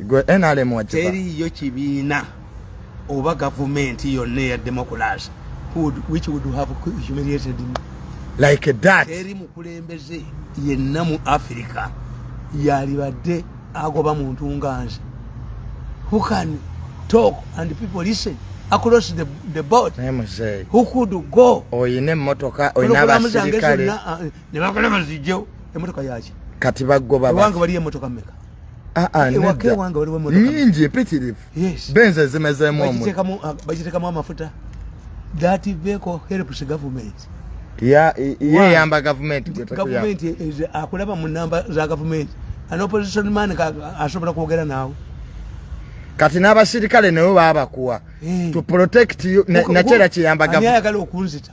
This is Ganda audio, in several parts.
gwe nrm wakiba teriyo kibiina oba gavumenti yonna eya democracy which would have humiliated me like that teri mukulembeze yenna mu africa yalibadde agoba muntu nga nze who can talk and people listen across the, the board who could go oyina emmotoka oyina abasirikale ne bagala bazijjewo emmotoka yaki kati bagoba ewange waliyo emmotoka meka ah, ah, nyingi mpitirivu benzi ezimezemubagitekamu amafuta that vehicle helps government yeyamba gavumenti gavumenti akulaba mu namba za gavumenti an opposition man asobola kwogera naawe kati n'abasirikale nawe babakuwa eh. to protect you nakyera kiyamba gavumenti ayagala okunzita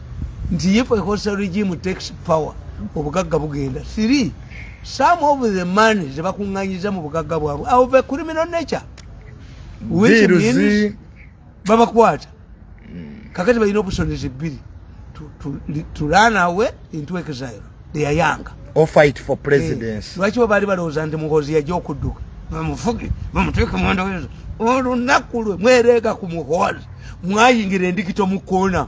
nti if a hostile regime takes power obugagga bugenda three some of the money zebakunganyiza mu bugagga bwabwe of a criminal nature which means babakwata kakati balina opusonizi bbiri to run away into exile they are young or fight for eh, presidency lwaki bo baali balowooza nti muhozi yaja okudduka bamufuge bamuteeke mwandawezo olunaku lwe mwereega ku muhozi mwayingira endikito mu koona